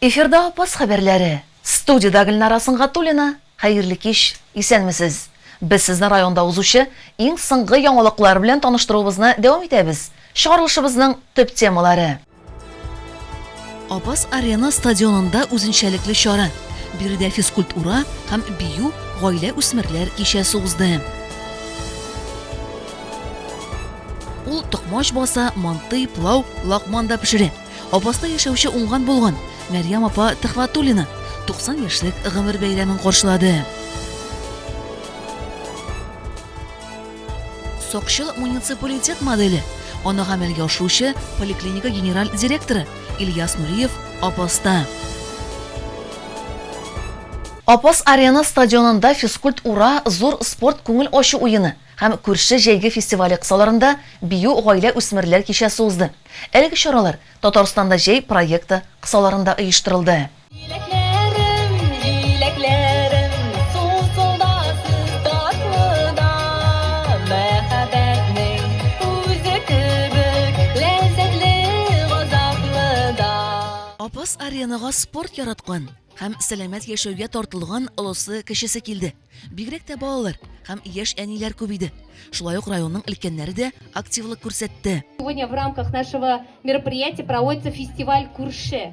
Эфирда Апас хәбәрләре. Студиядә Гөлнара Сөнгатуллина. Хәерле кич, исәнмесез. Без сезне районда узучы иң соңгы яңалыклар белән таныштыруыбызны дәвам итәбез. Чыгарылышыбызның төп темалары. Апас Арена стадионында үзенчәлекле чара. Биредә физкульт ура һәм бию гаилә үсмерләр кичәсе узды. Ул токмач баса, мантый, плау, лакман да пешерә. Апаста яшәүче уңган булган Мәрьям апа Төхватуллина 90 яшьлек гомер бәйрәмен каршылады. Сокчыл муниципалитет моделе. Аны гамәлгә ашыручы поликлиника генераль директоры Ильяс Нуриев Апаста. Апас Арена стадионында физкульт ура, зур спорт күңел ачу уены һәм күрше җәйге фестивале кысаларында Бию гаилә-үсмерләр кичәсе узды. Әлеге чаралар Татарстанда җәй проекты кысаларында оештырылды. Җиләкләрем, җиләкләрем, сусылдасыз татлы да, мәхәббәтнең үзе кебек ләззәтле газаплы да. Апас аренага спорт яраткан һәм сәламәт яшәүгә тартылган олысы-кечесе килде. Бигрәк тә балалар һәм яшь әниләр күп иде. Шулай ук районның өлкәннәре дә активлык күрсәтте. Сегодня в рамках нашего мероприятия проводится фестиваль Күрше.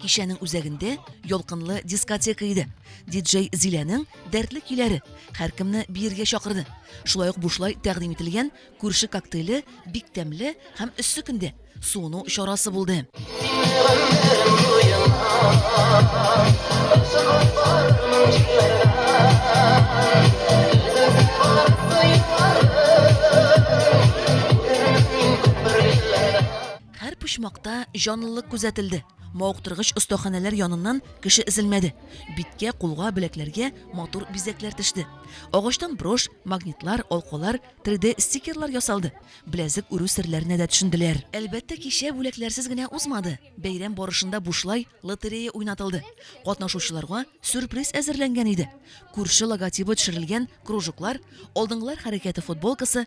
Кичәнең үзәгендә ялкынлы дискотека иде. Диджей Зиләнең дәртле көйләре һәркемне биергә чакырды. Шулай ук бушлай тәкъдим ителгән күрше коктейле бик тәмле һәм эссе көндә суыну чарасы булды. Һәр почмакта җанлылык күзәтелде. Мавыктыргыч остаханәләр яныннан кеше өзелмәде. Биткә, кулга, беләкләргә матур бизәкләр төште. Агачтан брошь, магнитлар, алкалар, 3D стикерлар ясалды. Беләзек үрү серләренә дә төшенделәр. Әлбәттә, кичә бүләкләрсез генә узмады. Бәйрәм барышында бушлай лотерея уйнатылды. Катнашучыларга сюрприз әзерләнгән иде. Күрше логотибы төшерелгән кружоклар, алдынгылар хәрәкәте футболкасы,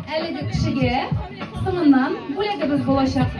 Әлеге кешегә соңыннан бүләгебез булачак.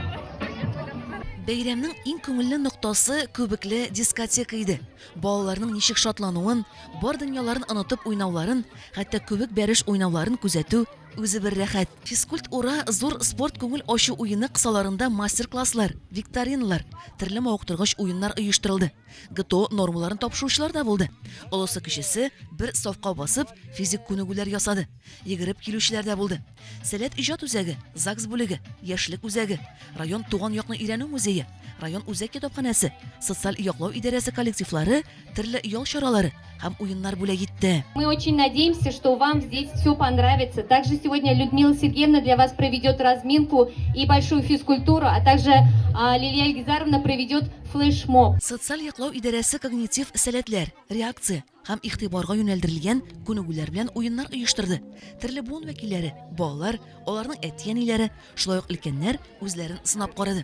Бәйрәмнең иң күңелле ноктасы күбекле дискотека иде. Балаларның ничек шатлануын, бар дөньяларын онытып уйнауларын, хәтта күбек бәреш уйнауларын күзәтү үзе бер рәхәт. Физкульт ура зур спорт күңел ачу уены кысаларында мастер-класслар, викториналар, төрле мавыктыргыч уеннар оештырылды. ГТО нормаларын тапшыручылар да булды. Олысы-кечесе бер сафка басып, физик күнегүләр ясады. Йөгереп килүчеләр дә булды. Сәләт иҗат үзәге, ЗАГС бүлеге, Яшьлек үзәге, район Туган якны өйрәнү музее, район үзәк китапханәсе, социаль яклау идарәсе коллективлары төрле ял чаралары һәм уеннар бүләк итте. Мы очень надеемся, что вам здесь все понравится. Также сегодня Людмила Сергеевна для вас проведет разминку и большую физкультуру, а также а, Лилия Ильгизаровна проведет флешмоб. Социаль яклау идарәсе когнитив сәләтләр, реакция, һәм игътибарга юнәлдерелгән күнегүләр белән уеннар оештырды. Төрле буын вәкилләре, балалар, аларның әти-әниләре, шулай ук өлкәннәр үзләрен сынап карады.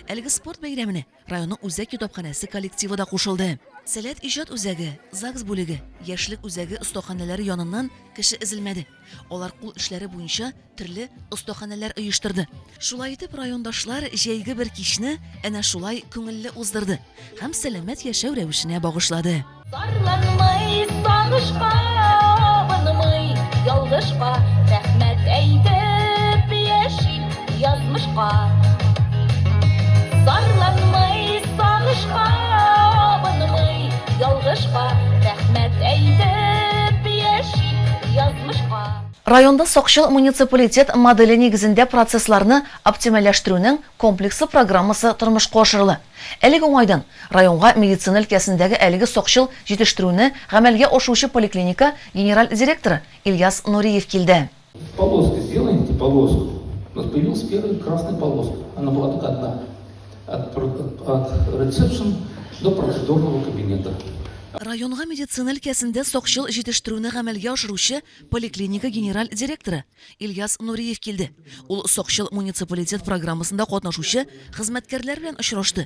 Әлеге спорт бәйрәменә районның үзәк китапханәсе коллективы да кушылды. Сәләт иҗат үзәге, ЗАГС бүлеге, Яшьлек үзәге остаханәләре яныннан кеше өзелмәде. Алар кул эшләре буенча төрле остаханәләр оештырды. Шулай итеп, райондашлар җәйге бер кичне әнә шулай күңелле уздырды һәм сәламәт яшәү рәвешенә багышлады. Зарланмый, сагышка абынмый, ялгышка рәхмәт әйтеп яши. Язмышка Зарланмый сагышка Абынмый ялгышка Рәхмәт әйтеп яшик язмышка Районда сакчыл муниципалитет моделе нигезендә процессларны оптимальләштерүнең комплекслы программасы тормышка ашырыла. Әлеге уңайдан, районга медицина өлкәсендәге әлеге сакчыл җитештерүне гамәлгә ашыручы поликлиника генераль директоры Ильяс Нуриев килде. Полоски сделаем, эти полоски. У нас появилась первая красная полоска. Она была только одна. От, от, от ресепшн до процедурного кабинета. Районга медицина өлкәсендә сакчыл җитештерүне гамәлгә ашыручы поликлиника генераль директоры Ильяс Нуриев килде. Ул сакчыл муниципалитет программасында катнашучы хезмәткәрләр белән очрашты.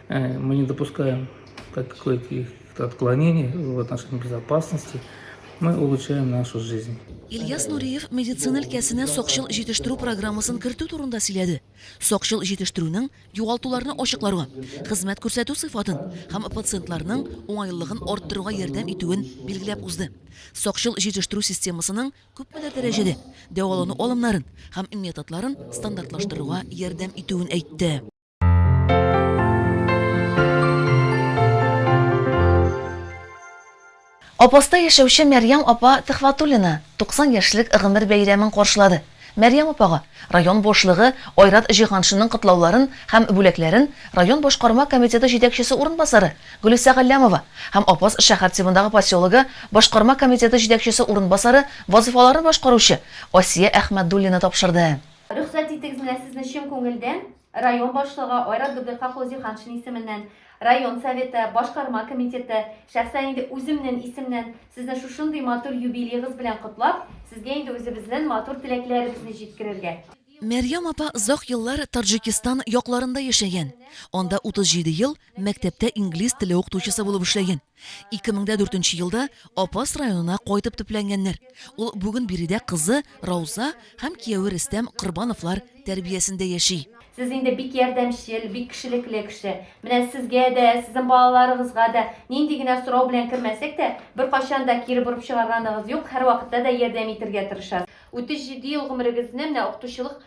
Э, мы не допускаем каких-то отклонений в отношении безопасности. Мы улучшаем нашу жизнь. Ильяс Нуриев медицина өлкәсенә сакчыл җитештерү программасын кертү турында сөйләде. Сакчыл җитештерүнең югалтуларны ачыкларга, хезмәт күрсәтү сыйфатын һәм пациентларның уңайлылыгын арттыруга ярдәм итүен билгеләп узды. Сакчыл җитештерү системасының күпмедер дәрәҗәдә дәвалану алымнарын һәм методларын стандартлаштыруга ярдәм итүен әйтте. Апаста яшәүче Мәрьям апа Төхватуллина 90 яшьлек гомер бәйрәмен каршылады. Мәрьям апага район башлыгы Айрат Җиһаншинның котлауларын һәм бүләкләрен район башкарма комитеты җитәкчесе урынбасары Гөлүсә Галләмова һәм Апас шәһәр тибындагы поселогы башкарма комитеты җитәкчесе урынбасары вазыйфаларын башкаручы Асия Әхмәтдуллина тапшырды. Рөхсәт итегез менә сезне чын күңелдән район башлыгы Айрат Дуберка Хозиханшин исеменнән, район советы, башкарма комитеты, шәхсән инде үземнен исемнән сезне шушындый матур юбилегыз белән котлап, сезгә инде үзебезнен матур теләкләребезне җиткерергә. Мәрьям апа озак еллар Таджикистан якларында яшәгән, анда 37 ел мәктәптә инглиз теле укытучысы булып эшләгән. 2004 елда Апас районына кайтып төпләнгәннәр. Ул бүген биредә кызы Рауза һәм кияве Рөстәм Корбановлар тәрбиясендә яши. Сез инде бик ярдәмчел, бик кешелекле кеше. Менә сезгә дә, сезнең балаларыгызга да нинди генә сорау белән кермәсәк тә, беркайчан да кире борып чыгарганыгыз юк, һәрвакытта да ярдәм итергә тырышасыз. 37 ел гомерегезне менә укытучылык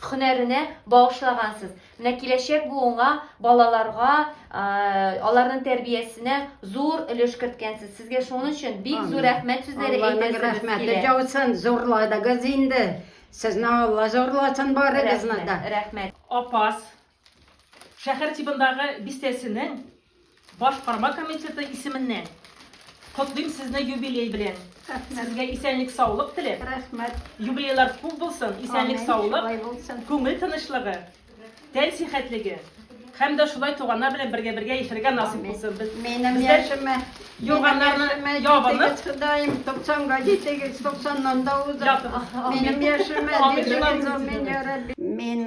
хөнәренә багышлагансыз. Менә киләчәк буынга, балаларга, аларның тәрбиясенә зур өлеш керткәнсез. Сезгә шуның өчен бик зур рәхмәт сүзләре әйтәсебез килә. Рәхмәте яусын, зурладыгыз инде. Сезне Алла зурласын барыгызны да. Рәхмәт. Апас шәһәр тибындагы бистәсенең Башкарма комитеты исеменнән котлыйм сезне юбилей белән. Рәхмәт. Сезгә исәнлек, саулык теләп. Рәхмәт. Юбилейлар күп булсын, исәнлек, саулык, күңел тынычлыгы, тән сихәтлеге һәм дә шулай туганнар белән бергә бергә яшәргә насыйп булсын. Без Минем безләр яшемә, юрганнарны яшемә ябынып, җитегез, Ходаем, 90-га җитегез, 90-нан да узып. Ятыгыз. Минем яшемә Амин. җитегез, амин, я Рабби. Мин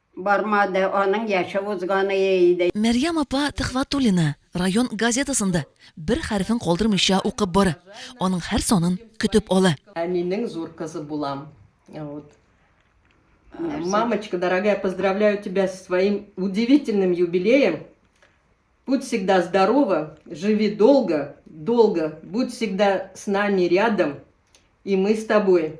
Бармады, аның яше узганы иде. Мәрьям апа Төхвәтуллина район газетасын да бер хәрефен калдырмыйча укып бара, аның һәр санын көтеп ала. Әнинең зур кызы булам. Вот. Мамочка дорогая, поздравляю тебя с твоим удивительным юбилеем. Будь всегда здорова, живи долго, долго, будь всегда с нами рядом, и мы с тобой.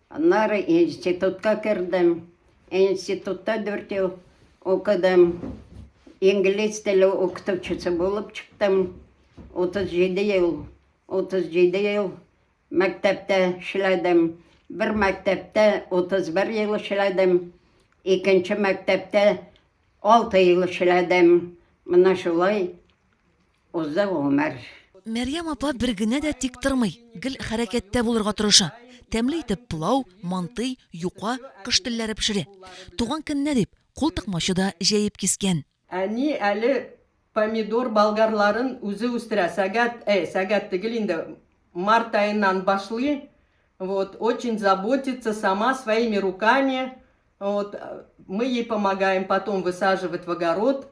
Аннары институтка кердем. Институтта дүрт ел укыдым. Инглиз теле укытучысы булып чыктым. 37 ел, 37 ел мәктәптә эшләдем. Бер мәктәптә 31 ел эшләдем. Икенче мәктәптә 6 ел эшләдем. Менә шулай Узды гомер. Мәрьям апа бер генә дә тик тормый, гел хәрәкәттә булырга тырыша. Тәмле итеп пылау, мантый, юка, кош телләре пешерә. Туган көненә дип, кул тыкмачы да җәеп кискән. Әни әле помидор болгарларын үзе үстерә, сәгать, әй, сәгать тегел инде, март аеннан башлый, вот, очень заботится сама своими руками, вот, мы ей помогаем потом высаживать в огород.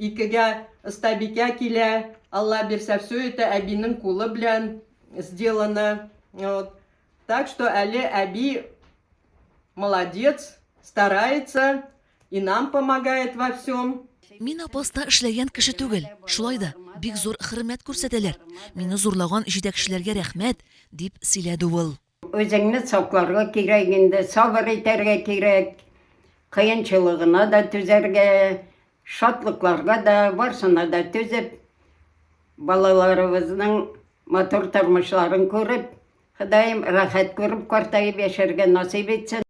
Икегә остабикә килә, Алла бирсә все это әбинең кулы белән сделано. Вот. Так что әле әби молодец, старается и нам помогает во всем. Мин апаста эшләгән кеше түгел. Шулай да бик зур хөрмәт күрсәтәләр. Мине зурлаган җитәкчеләргә рәхмәт, дип сөйләде ул. Үзеңне сакларга кирәк инде, сабыр итәргә кирәк, кыенчылыгына да түзәргә, шатлыкларга да, барсына да түзеп, балаларыбызның матур тормышларын күреп, Ходаем рәхәт күреп картаеп яшәргә насыйп итсен.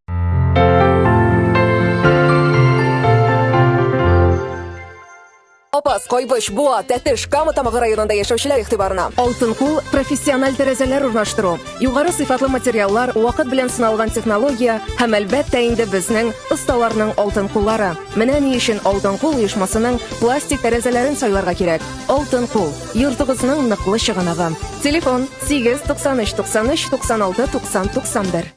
Апас, Кайбыч, Буа, Тәтеш, Кама Тамагы районында яшәүчеләр игътибарына. Алтын кул профессиональ тәрәзәләр урнаштыру, югары сыйфатлы материаллар, вакыт белән сыналган технология һәм әлбәттә инде безнең осталарның алтын куллары. Менә ни өчен Алтын кул оешмасының пластик тәрәзәләрен сайларга кирәк. Алтын кул, йортыгызның ныклы чыганагы. Телефон 8 93 93 96 90 91.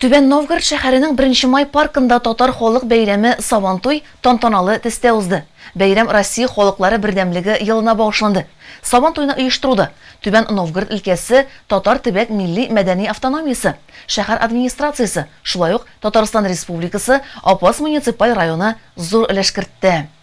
Түбән Новгород шәһәренең Беренче май паркында татар халык бәйрәме Сабантуй тантаналы төстә узды. Бәйрәм Россия халыклары бердәмлеге елына багышланды. Сабантуйны оештыруда Түбән Новгород өлкәсе татар төбәк милли мәдәни автономиясе, шәһәр администрациясе, шулай ук Татарстан Республикасы Апас муниципаль районы зур өлеш кертте.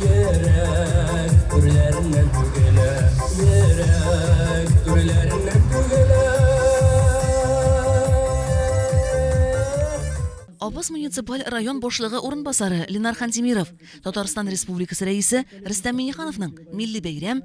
Йөрәк түрләреннән түгелә. Йөрәк түрләреннән түгелә. Абыз муниципаль район башлыгы урынбасары Ленар Хантимиров, Татарстан Республикасы Рәисе Рөстәм Миңнехановның Милли бәйрәм,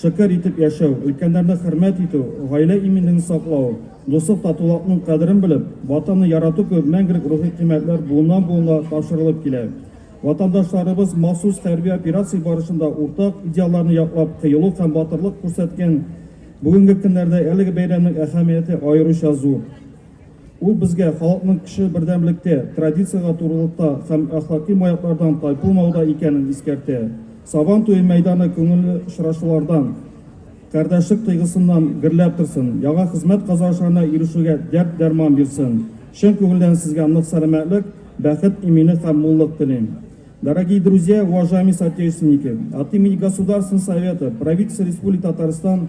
Шөкер итеп яшәү, өлкәннәрне хөрмәт итү, гаилә иминлеген саклау, дуслык, татулакның кадерен белеп, Ватанны ярату кебек мәңгелек рухи кыйммәтләр буыннан-буынга тапшырылып килә. Ватандашларыбыз махсус хәрби операция барышында уртак идеалларны яклап кыюлык һәм батырлык күрсәткән бүгенге көннәрдә әлеге бәйрәмнең әһәмияте аеруча зур. Ул безгә халыкның кеше бердәмлектә, традициягә турылыкта һәм әхлаки маяклардан тайпылмауда икәнен искәртә. Сабан туе мәйданы күңелле очрашулардан, кардәшлек тойгысыннан гөрләп торсын, яңа хезмәт казанышларына ирешүгә дәрт-дәрман бирсен. Чын күңелдән сезгә нык сәламәтлек, бәхет, иминлек һәм муллык телим. Дорогие друзья, уважаемые соотечественники, от имени Государственного совета, правительства Республики Татарстан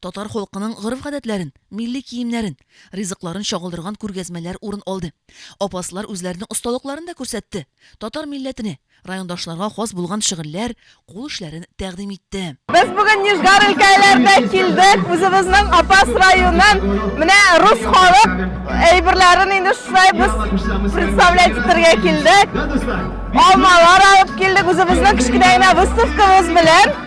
Татар халкының гореф-гадәтләрен, милли киемнәрен, ризыкларын чагылдырган күргәзмәләр урын алды. Апаслар үзләренең осталыкларын да күрсәтте, татар милләтенә, райондашларга хас булган шөгыльләр, кул эшләрен тәкъдим итте. Без бүген Нижгар өлкәләренә килдек, үзебезнең Апас районын, менә рус халык әйберләрен инде шулай без представлять итәргә килдек. Алмалар алып килдек үзебезнең кечкенә генә выставкабыз белән.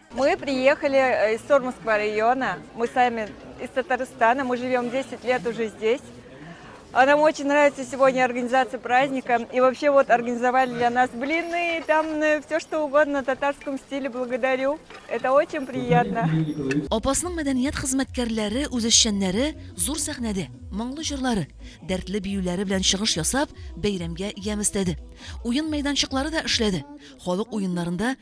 Мы приехали э, из Сормовского района. Мы сами из Татарстана. Мы живем 10 лет уже здесь. А нам очень нравится сегодня организация праздника. И вообще вот организовали для нас блины, там э, все что угодно на татарском стиле. Благодарю. Это очень приятно. Апасның мәдәният хезмәткәрләре, үзешчәннәре зур сәхнәдә моңлы җырлары, дәртле биюләре белән чыгыш ясап, бәйрәмгә ямь өстәде. Уен мәйданчыклары да эшләде. Халык уеннарында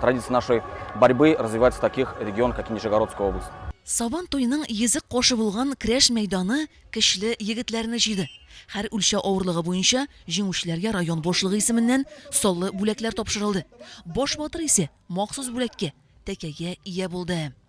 Традиции нашей борьбы развиваются в таких регионах, как Нижегородская область. Сабан туеның йөзек кошы булган крәш мәйданы көчле егетләрне җыйды. Һәр үлчә авырлыгы буенча җиңүчеләргә район башлыгы исеменнән саллы бүләкләр тапшырылды. Баш батыр исе махсус бүләккә, тәкәгә ия булды.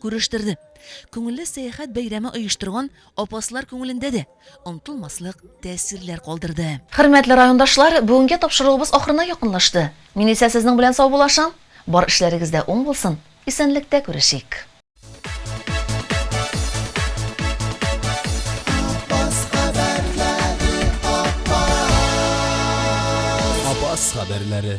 Күрештерде. Күңелле сәяхәт бәйрәме оештырган апаслар күңелендә дә онтылмаслык тәэсирләр калдырды. Хөрмәтле райондашлар, бүгенге тапшыруыбыз ахырына якынлашты. Мин исә сезнең белән саубуллашам. Бар эшләрегез дә уң булсын, исәнлектә күрешик! Апас хәбәрләре.